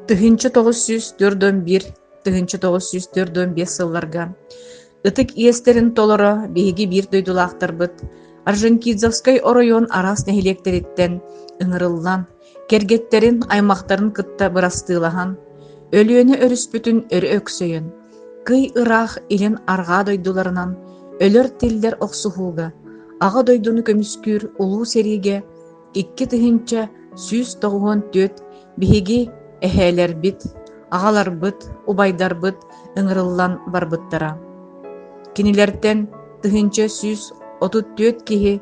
Тыһыынча тоҕус сүүс төрт уон биир тыһыынча тоҕус сүүс төрт уон биэс сылларга ытык иэстэрин толоро биһиги биир дойдулаахтарбыт Орджоникидзевскай оройуон араас нэһилиэктэриттэн ыҥырыллан, кэргэттэрин, аймахтарын кытта бырастыылаһан, Өлүөнэ өрүспүтүн өрө өксөйөн, кый ыраах илин арҕаа дойдуларынан өлөр тиллэр охсуһууга, Аҕа дойдуну көмүскүүр улуу сэриигэ Икки тыһыынча сүүс тоҕуһун түөрт биһиги эһээлэрбит, аҕаларбыт, убайдарбыт ыҥырыллан барбыттара. Кинилэртэн тыһыынча сүүс отут түөрт киһи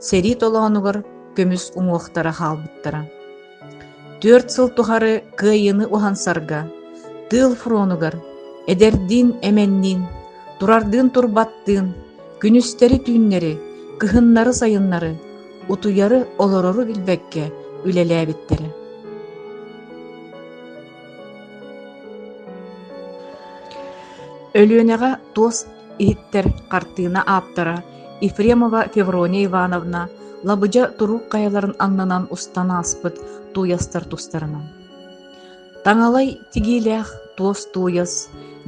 сэрии толоонугар көмүс уҥуохтара хаалбыттара. Түөрт сыл тухары кыайыыны уһансарга, тыыл фронугар, эдэрдиин эмэнниин, турардыын турбаттыын, күнүстэри түүннэри, кыһыннары сайыннары утуйары, олорору билбэккэ үлэлээбиттэрэ. Өлүөнэҕэ туос иһиттэр хартыына ааптара Ефремова Феврония Ивановна лабыдьа турук хайаларын аннынан устан ааспыт тууйастар тустарынан. Таҥалай тигиилээх туос тууйас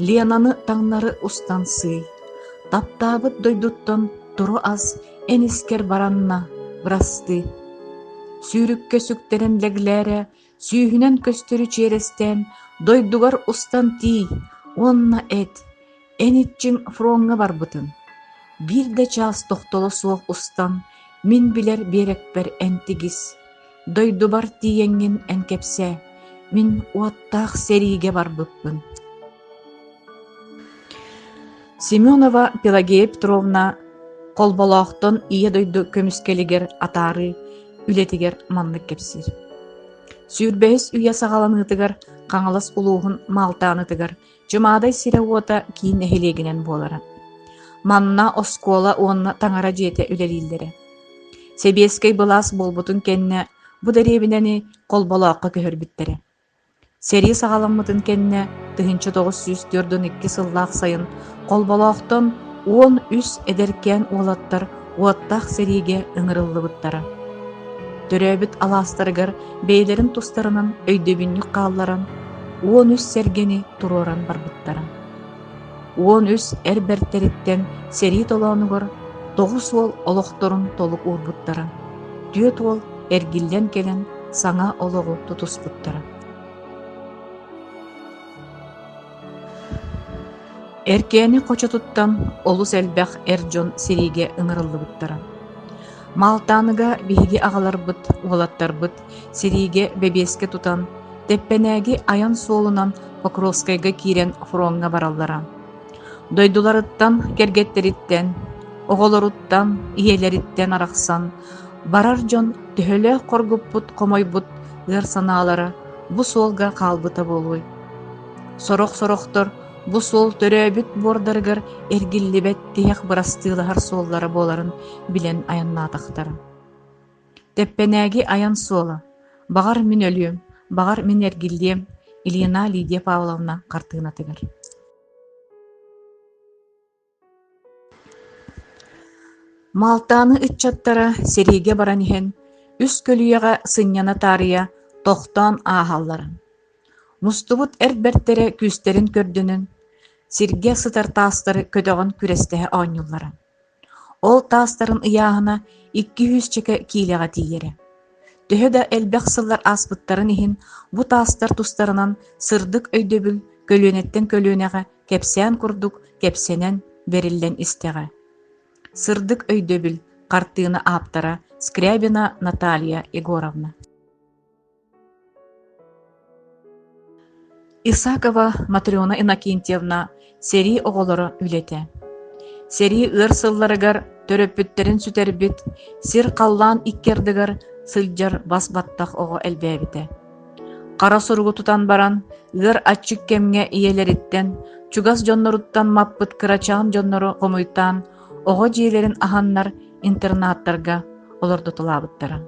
Ленаны таҥнары устан сыый, таптаабыт дойдуттан тура ас эн искэр баранна бырастыы. Сүүрүккэ сүктэрэн лэглээрэ сүүһүнэн көстөрү чиэрэстээн дойдугар устан тиий уонна эт, Эн иччиҥ фроҥҥа барбытын, биир да чаас тохтоло суох устан, мин билэр биэрэкпэр эмтигис, дойдубар тиийэҥҥин эн кэпсээ, мин уоттаах сэриигэ барбыппын Семенова Пелагея Петровна Холболоохтон Ийэ дойду көмүскэлигэр атаарыы үлэтигэр маннык кэпсиир. Сүүрбэһис үйэ саҕаланыытыгар Хаҥалас улууһун Маалтааныгар Дьумаадай сирэ-уота киин нэһилиэгинэн буолара. Манна оскуола уонна таҥара дьиэтэ үлэлииллэрэ. Сэбиэскэй былаас буолбутун кэннэ бу дэриэбинэни Холболооххо көһөрбүттэрэ. Сэрии саҕаламмытын кэннэ тыһыынча тоҕус сүүс түөрт уон икки сыллаах сайын Холболоохтон уон үс эдэркээн уолаттар уоттаах сэриигэ ыҥырыллыбыттара. Төрөөбүт алаастарыгар бэйэлэрин тустарынан өйдөбүнньүк хаалларан, уон үс сэргэни туруоран барбыттара. Уон үс эр бэртэриттэн сэрии толоонугар тоҕус уол олохторун толук уурбуттара. Түөрт уол эргиллэн кэлэн саҥа олоҕу тутуспуттара. Эркээни хочотуттан олус элбэх эр дьон сириигэ ыҥырыллыбыттара. Малтааныга биһиги аҕаларбыт, уолаттарбыт сириигэ бэбиэскэ тутан, Тэппэнээги айан суолунан Покровскайга киирэн фроҥҥа бараллара. Дойдуларыттан, кэргэттэриттэн, оҕолоруттан, ийэлэриттэн арахсан барар дьон төһөлөөх хоргуппут-хомойбут ыар санаалара бу суолга хаалбыта буолуой? Сорох-сорохтор бу суол төрөөбүт буордарыгар эргиллибэт тиһэх бырастыылаһар суоллара буоларын билэн айаннаатахтара. Тэппэнээги айан суола, баҕар мин өлүөм, баҕар мин эргиллиэм, Ильина Лидия Павловна хартыынатыгар Маалтааны ыччаттара сэриигэ баран иһэн үс көлүйэҕэ сынньана таарыйа тохтоон ааһаллара. Мустубут эр бэртэрэ күүстэрин көрдөнөн, сиргэ сытар таастары көтөҕөн күрэстэһэ оонньууллара. Ол таастарын ыйааһына икки-үһүс чэкэ киилэҕэ тиийэрэ төһө да элбэх сыллар ааспыттарын иһин, бу таастар тустарынан сырдык өйдөбүл көлүөнэттэн көлүөнэҕэ кэпсээн курдук кэпсэнэн, бэриллэн истэҕэ. Сырдык өйдөбүл хартыына ааптара Скрябина Наталья Егоровна Исакова Матрена Иннокентьевна сэрии оҕолоро үлэтэ. Сэрии ыар сылларыгар төрөппүттэрин сүтэрбит, сир-халлаан икки ардыгар сылдьар бас баттах оҕо элбээбитэ. Хара суругу тутан баран, ыар аччык кэмҥэ ийэлэриттэн, чугас дьонноруттан маппыт кырачаан дьоннору хомуйтаан, оҕо дьиэлэрин аһаннар интернаттарга олордутулаабыттара.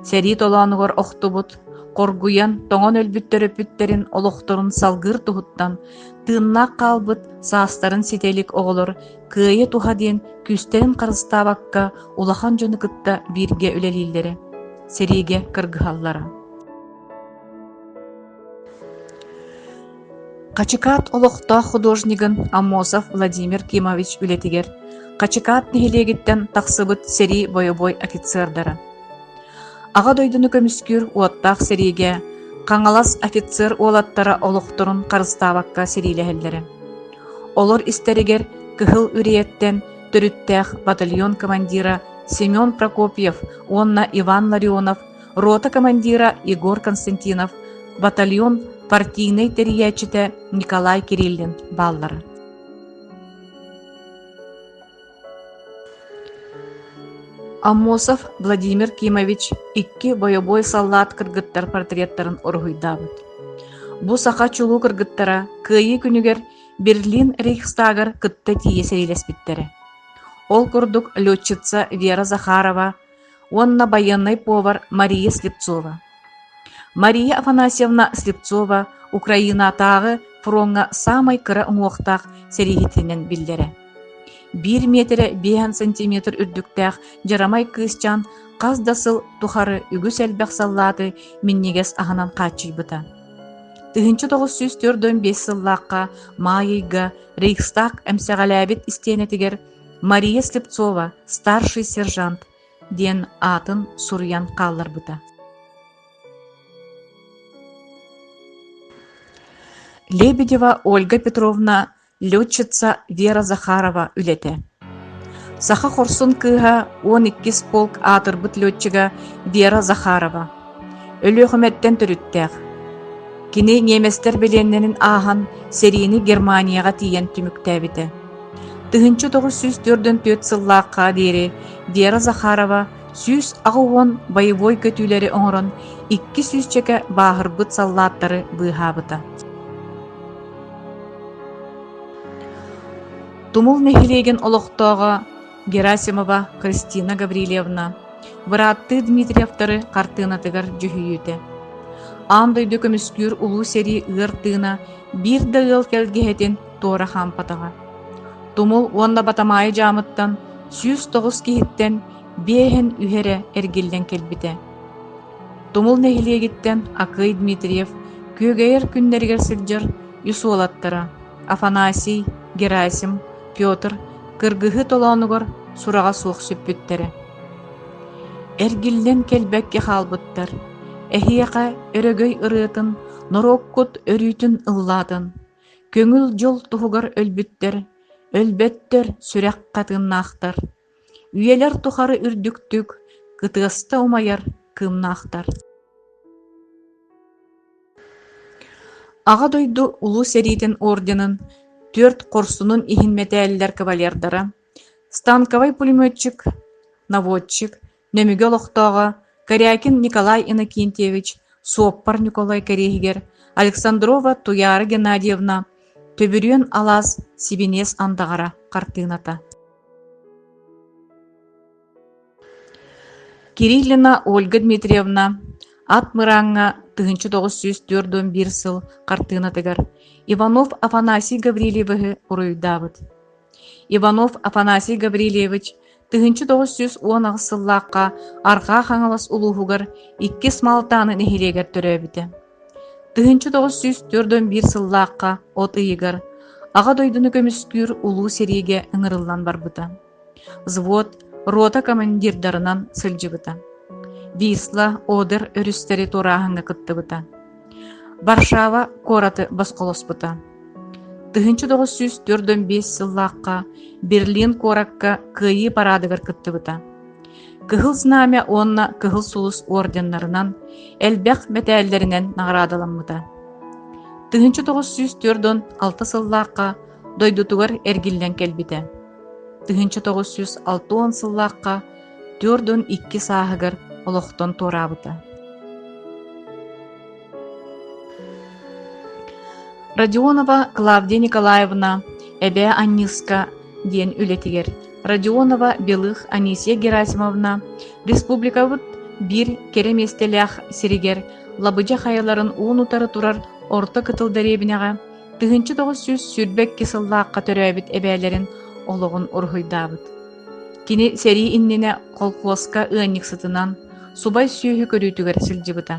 Сэрии толоонугар охтубут, хоргуйан, тоҥон өлбүт төрөппүттэрин олохторун салгыыр туһуттан тыыннаах хаалбыт саастарын ситэ илик оҕолор кыайа туһа диэн күүстэрин харыстаабакка улахан дьону кытта бииргэ үлэлииллэрэ, сэриигэ кыргыһаллара. Хачыкаат олохтоох художнигын Аммосов Владимир Кимович үлэтигэр Хачыкаат нэһилиэгиттэн тахсыбыт сэрии бойобуой офицердара Аҕа дойдуну көмүскүүр уоттаах сэриигэ Хаҥалас офицер уолаттара олохторун харыстаабакка сэриилэһэллэрэ. Олор истэригэр Кыһыл Үриэттэн төрүттээх батальон командира Семен Прокопьев уонна Иван Ларионов рота командира Егор Константинов, батальон партийнай тэрийээччитэ Николай Кириллин бааллара. Аммосов Владимир Кимович икки бойобуой саллаат кыргыттар портреттарын уруһуйдаабыт. Бу саха чулуу кыргыттара кыайыы күнүгэр Берлин Рейхстагар кытта тиийэ сэриилэспиттэрэ. Ол курдук летчица Вера Захарова уонна байыаннай повар Мария Слепцова. Мария Афанасьевна Слепцова Украинаатааҕы фроҥҥа саамай кыра уҥуохтаах сэрииһитинэн биллэрэ. Биир миэтэрэ биэһэн сантиметр үрдүктээх дьарамай кыысчаан хас да сыл тухары үгүс элбэх саллааты минньигэс аһынан хааччыйбыта. Тыһыынча тоҕус сүүс төрт он биэс сыллаахха Маайыйга Рейхстаг эмсэҕэлээбит истиэнэтигэр Мария Слепцова «Старший сержант» диэн аатын суруйан хаалларбыта. Лебедева Ольга Петровна, летчица Вера Захарова үлэтэ. Саха хорсун кыыһа, он иккис полк аатырбыт летчига Вера Захарова. Өлүөхүмэттэн төрүттээх. Кини ниэмэстэр билиэннэрин ааһан, сэриини Германияҕа тиийэн түмүктээбитэ. Тыһыынча тоҕус сүүс төрдөн түөрт сыллаахха диэри Вера Захарова сүүс аҕыс уон боевой көтүүлэри оҥорон икки сүүсчэкэ бааһырбыт саллааттары быыһаабыта. Тумул нэһилиэгин олохтооҕо Герасимова Кристина Гаврильевна, бырааттыы Дмитриевтары хартыынатыгар дьүһүйүүтэ. Аан дойду көмүскүүр Улуу сэрии ыар тыына биир да ыал кэлгиһэтин туора хаампатаҕа. Тумул уонна Батамаайы дьаамыттан сүүс тоҕус киһиттэн биэһэн үһэрэ эргиллэн кэлбитэ. Тумул нэһилиэгиттэн Акый Дмитриев күөгэйэр күннэригэр сылдьар үс уолаттара Афанасий, Герасим, Петр кыргыһыы толоонугар сураҕа суох сүппүттэрэ. Эргиллэн кэлбэккэ хаалбыттар. Эһиэхэ өрөгөй ырыатын, норуоккут өрүүтүн ыллаатын, көҥүл дьол туһугар өлбүттэр, өлбөттөр сүрэх хатыыннаахтар, Үйэлэр тухары үрдүктүк, кытыаста умайар кыымнаахтар Аҕа дойду Улуу сэриитин орденын түөрт хорсунун иһин мэтээллэр кавалердара, станковай пулеметчик, наводчик Нөмүгө олохтооҕо Корякин Николай Иннокентьевич, суоппар Ньукулай кэриэһигэр, Александрова Туяра Геннадьевна, Төбүрүөн алаас сибиниэс андаҕара хартыыната Кириллина Ольга Дмитриевна Ат Мырааҥҥа тыһыынча тоҕус сүүс түөрт уон биир сыл хартыынатыгар Иванов Афанасий Гаврильевиһы уруйдаабыт. Иванов Афанасий Гаврильевич тыһыынча тоҕус сүүс уон аҕыс сыллаахха Арҕаа Хаҥалас улууһугар иккис Малтааны нэһилиэгэр төрөөбүтэ. Тыһыынча тоҕус сүүс төрт уон биир сыллаахха от ыйыгар Аҕа дойдуну көмүскүүр улуу сэриигэ ыҥырыллан барбыта. Взвод рота командирдарынан сылдьыбыта. Висла, Одер өрүстэри туорааһыҥҥа кыттыбыта. Варшава куораты босхолоспута. Тыһыынча тоҕус сүүс төрт уон биэс сыллаахха Берлин куоракка Кыайыы параадыгар кыттыбыта. Кыһыл Знамя уонна Кыһыл Сулус орденнарынан, элбэх мэтээллэринэн наҕараадаламмыта. Тыһыынча тоҕус сүүс төрт уон алта сыллаахха дойдутугар эргиллэн кэлбитэ. Тыһыынча тоҕус сүүс алта уон сыллаахха Түөрт уон икки сааһыгар олохтон туораабыта. Родионова Клавдия Николаевна Эбээ Анньыыска диэн үлэтигэр Родионова Белых Анисия Герасимовна республикабыт биир кэрэ миэстэлээх сиригэр лабыдьа хайаларын уун утары турар орто кытыл дэриэбинэҕэ тыһыынча тоҕус сүүс сүүрбэкки сыллаахха төрөөбүт эбээлэрин олоҕун уруһуйдаабыт. Кини сэрии иннинэ холкуоска ыанньыксытынан, субай сүөһү көрүүтүгэр сылдьыбыта.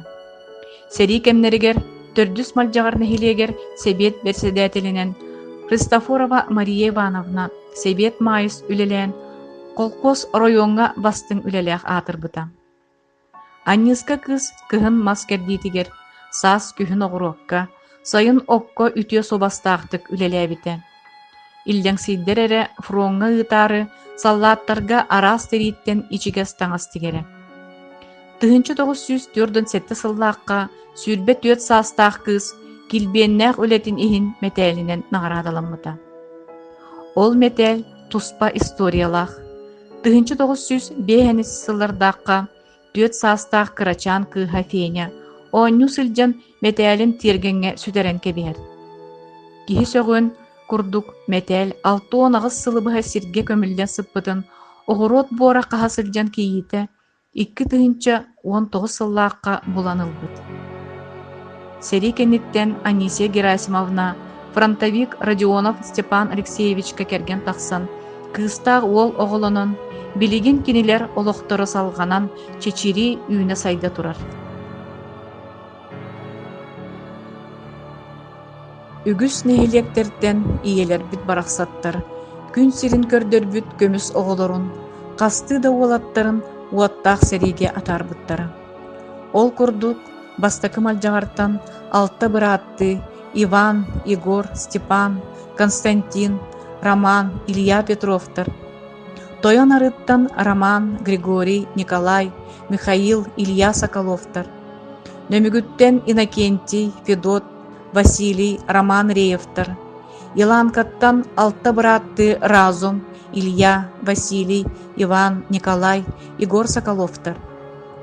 Сэрии кэмнэригэр Төрдүс Малдьаҕар нэһилиэгэр Сэбиэт бэрэссэдээтэлинэн Христофорова Мария Ивановна Сэбиэт Маайыс үлэлээн, холкуос оройуоҥҥа бастыҥ үлэлээх аатырбыта. Аньыыска кыыс кыһын мас кэрдиитигэр, саас күһүн оҕуруокка, сайын окко үтүө суобастаахтык үлэлээбитэ. Иллэҥсийдэр эрэ фроҥҥа ыытаары саллааттарга араас тэрииттэн ичигэс таҥас тигэрэ. Тыһыынча тоҕус сүүс түөртүн сэттэ сыллаахха сүүрбэ түөрт саастаах кыыс килбиэннээх үлэтин иһин мэтээлинэн наҕараадаламмыта. Ол мэтээл туспа историялаах. 1905 сыллардаахха түөрт саастаах кырачаан кыыһа Феня оонньуу сылдьан мэтээлин тиэргэҥҥэ сүтэрэн кэбиһэр. Киһи сөҕүн курдук мэтээл алта уон аҕыс сылы быһа сиргэ көмүллэн сыппытын, оҕуруот буора хаһа сылдьан кийиитэ икки тыһыынча уон тоҕус сыллаахха булан ылбыт. Сэрии кэнниттэн Анисия Герасимовна фронтовик Родионов Степан Алексеевичка кэргэн тахсан, кыыстаах уол оҕолонон, билигин кинилэр олохторо салҕанан чэчирии үүнэ-сайда турар. Үгүс нэһилиэктэртэн ийэлэрбит барахсаттар күн сирин көрдөрбүт көмүс оҕолорун, хастыы да уолаттарын уоттаах сэриигэ атаарбыттара. Ол курдук, бастакы малдьаҕартан алта бырааттыы Иван, Егор, Степан, Константин, Роман, Илья Петровтар, тойон арыттан Роман, Григорий, Николай, Михаил, Илья Соколовтар, Нөмүгүттэн Иннокентий, Федот, Василий, Роман Реевтар, Иланкаттан алта бырааттыы Разум, Илья, Василий, Иван, Николай, Егор Соколовтар.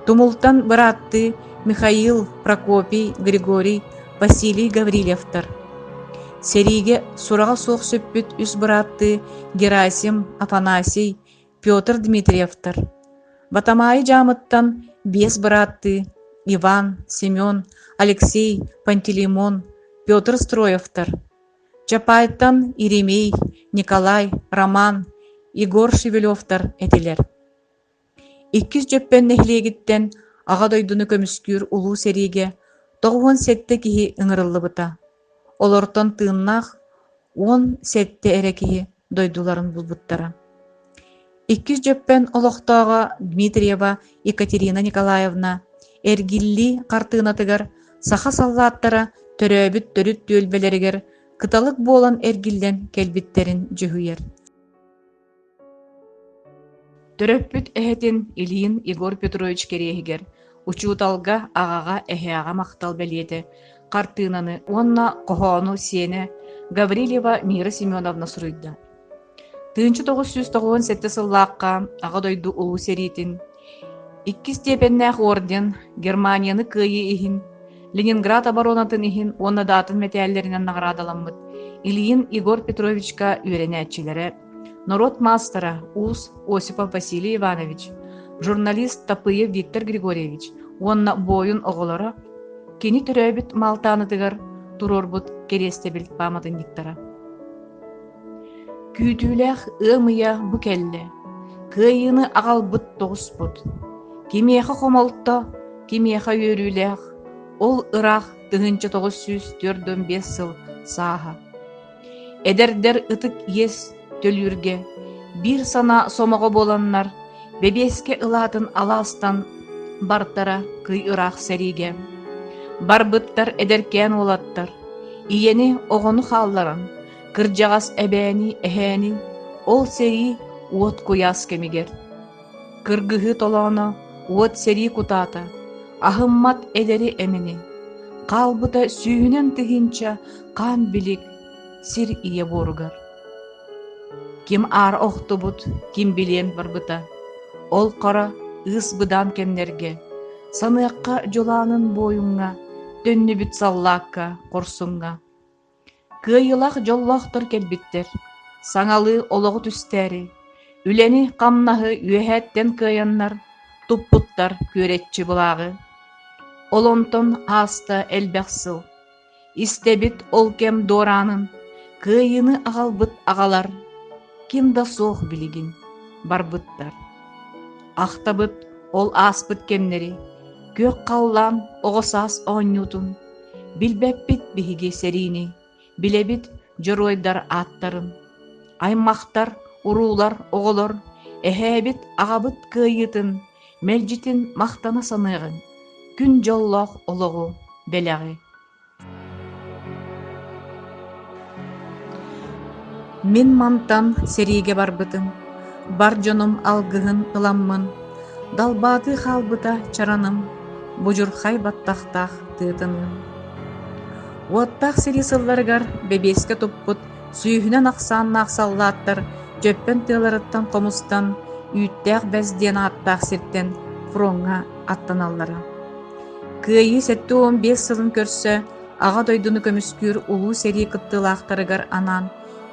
Тумултан бырааттыы Михаил, Прокопий, Григорий, Василий Гаврильевтар. Сэриигэ сураҕа суох сүппүт үс бырааттыы Герасим, Афанасий, Петр Дмитриевтар, Батамаайы дьаамыттан биэс бырааттыы Иван, Семен, Алексей, Пантелеймон, Петр Строевтар, Чапайтан Иеремей, Николай, Роман, Егор Шевелевтар этилэр. Иккис Дьөппөн нэһилиэгиттэн Аҕа дойдуну көмүскүүр улуу сэриигэ тоҕуһун сэттэ киһи ыҥырыллыбыта. Олортон тыыннаах уон сэттэ эрэ киһи дойдуларын булбуттара. Иккис Дьөппөн олохтооҕо Дмитриева Екатерина Николаевна эргиллии хартыынатыгар саха саллааттара төрөөбүт төрүт түөлбэлэригэр кыталык буолан эргиллэн кэлбиттэрин дьүһуйар Төрөппүт эһэтин Ильин Егор Петрович кэриэһигэр учууталга, аҕаҕа, эһээҕэ махтал бэлиэтэ, хартыынаны уонна хоһоону сиэнэ Гаврильева Мира Семеновна суруйда. Тыынча тоҕус сүүс тоҕуон сэттэ сыллаахха Аҕа дойду Улуу сэриитин Иккис степеннээх орден Германияны кыайыы иһин, Ленинград оборонатын иһин уонна да атын мэтээллэринэн наҕараадаламмыт Ильин Егор Петровичка үөрэнээччилэрэ, норуот маастара уус Осипов Василий Иванович, журналист Тапыев Виктор Григорьевич уонна буойун оҕолоро кини төрөөбүт Малтааныгар туруорбут кэриэстэбил пааматынньыктара Күүтүүлээх ыам ыйа бу кэллэ, кыайыыны аҕалбыт тоҕуспут. Кимиэхэ хомолто, кимиэхэ үөрүүлээх, ол ыраах тыһыынча тоҕус сүүс түөрт уон биэс сыл сааһа. Эдэрдэр ытык иэс төлүүргэ биир санаа сомоҕо буоланнар, бэбиэскэ ылаатын алаастан бартара кый ыраах сэриигэ. Барбыттар эдэркээн уолаттар, ийэни, оҕону хаалларан, кырдьаҕас эбээни эһээни ол сэрии уот куйаас кэмигэр кыргыһыы толооно уот сэрии кутаата аһыммат эдэри эмини хаалбыта сүүһүнэн тыһыынча хаан билик сир ийэ буоругар ким аар охтубут ким билиэн барбыта ол хара ыыс быдаан кэмнэргэ саныахха дьулаанын буойуҥҥа төннүбүт саллаакка хорсуҥҥа Кыайыылаах дьоллоохтор кэлбиттэр, саҥалыы олоҕу түстээри, үлэни-хамнаһы үөһээттэн кыайаннар туппуттар күөрэччи былааҕы. Ол онтон ааста элбэх сыл. Истэбит ол кэм дуораанын, кыайыыны аҕалбыт аҕалар ким да суох билигин барбыттар. Ахтабыт ол ааспыт кэмнэри, күөх халлаан оҕо саас оонньуутун, Билбэппит биһиги сэриини, билэбит дьоруойдар ааттарын. Аймахтар, уруулар, оҕолор, эһээбит, аҕабыт кыайыытын, мэлдьитин махтана саныаҕыҥ. Күн дьоллоох олоҕу, бэлэҕи. Мин мантан сэриигэ барбытым, бар дьонум алгыһын ыламмын, далбаатыы хаалбыта чараным, будьурхай баттахтаах тыытыныам. Уоттаах сэрии сылларыгар бэбиэскэ туппут сүүһүнэн ахсааннаах саллааттар дьөппөн тыаларыттан хомустан, үүттээх бэс диэн ааттаах сиртэн фроҥҥа аттаналлара. Кыайыы сэттэ уон биэс сылын көрсө Аҕа дойдуну көмүскүүр Улуу сэрии кыттыылаахтарыгар анаан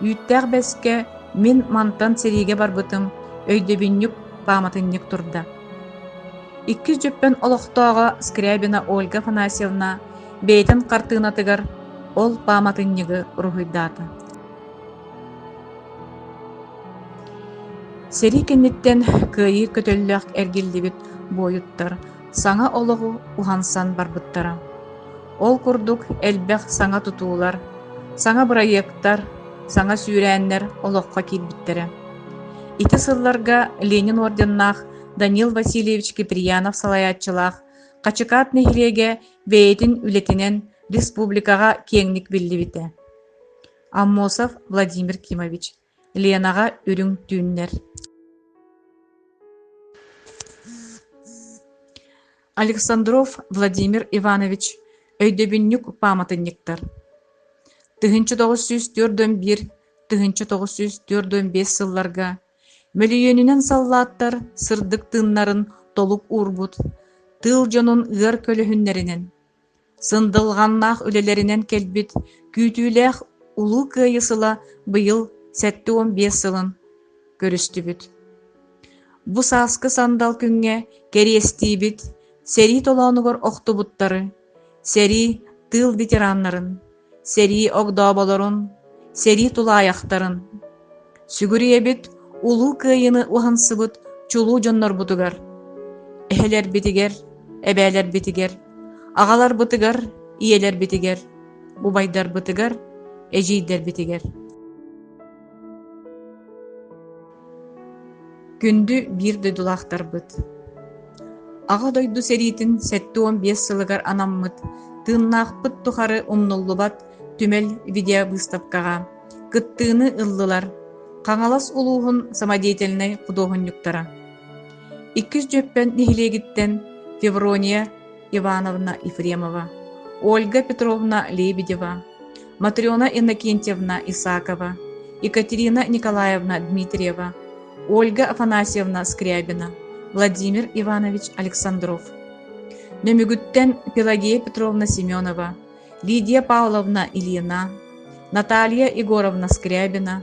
үүттээх бэскэ мин мантан сэриигэ барбытым өйдөбүнньүк пааматынньык турда. Иккис дьүппэн олохтооҕо Скрябина Ольга Афанасьевна бэйэтин хартыынатыгар ол пааматынньыгы уруһуйдаата. Сэрии кэнниттэн кыайыы көтөллөөх эргиллибит буойуттар саҥа олоҕу уһансан барбыттара. Ол курдук элбэх саҥа тутуулар, саҥа бырайыактар, саҥа сүүрээннэр олоххо киирбиттэрэ. Ити сылларга Ленин орденнаах Данил Васильевич Киприянов салайааччылаах Хачыкаат нэһилиэгэ бэйэтин үлэтинэн республикаҕа киэҥник биллибитэ. Аммосов Владимир Кимович Ленаҕа үрүҥ түүннэр Александров Владимир Иванович өйдөбүнньүк пааматынньыктар тыһыынча тоҕус сүүс түөрт уон биир тыһыынча тоҕус сүүс түөрт уон биэс сылларга мөлүйүөнүнэн саллааттар сырдык тыыннарын толук уурбут тыыл дьонун ыар көлөһүннэринэн сындылҕаннаах үлэлэринэн кэлбит күүтүүлээх Улуу Кыайыы сыла быйыл сэттэ уон биэс сылын көрүстүбүт. Бу сааскы сандал күҥҥэ кэриэстиибит сэрии толоонугар охтубуттары, сэрии тыыл ветераннарын, сэрии огдооболорун, сэрии тулаайахтарын, сүгүрүйэбит Улуу Кыайыыны уһансыбыт чулуу дьоннорбутугар, эһэлэрбитигэр, эбээлэрбитигэр, аҕаларбытыгар, ийэлэрбитигэр, убайдарбытыгар, эдьиийдэрбитигэр Күндү биир дойдулаахтарбыт! Аҕа дойду сэриитин сэттэ уон биэс сылыгар анаммыт тыыннаахпыт тухары умнуллубат түмэл видеовыставкаҕа кыттыыны ыллылар Хаҥалас улууһун самодеятельнай худуоһунньуктара. Иккис дьүөппэн нэһилиэгиттэн Феврония Ивановна Ефремова, Ольга Петровна Лебедева, Матрена Иннокентьевна Исакова, Екатерина Николаевна Дмитриева, Ольга Афанасьевна Скрябина, Владимир Иванович Александров. Нөмүгүттэн Пелагея Петровна Семенова, Лидия Павловна Ильина, Наталья Егоровна Скрябина,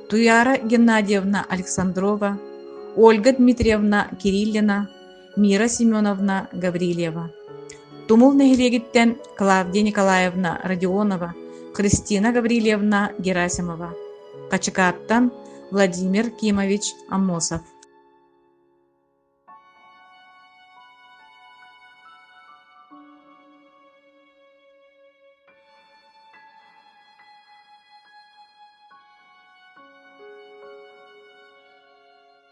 Туяра Геннадьевна Александрова, Ольга Дмитриевна Кириллина, Мира Семеновна Гаврильева, Тумул нэһилиэгиттэн Клавдия Николаевна Родионова, Христина Гаврильевна Герасимова, Хачыкааттан Владимир Кимович Амосов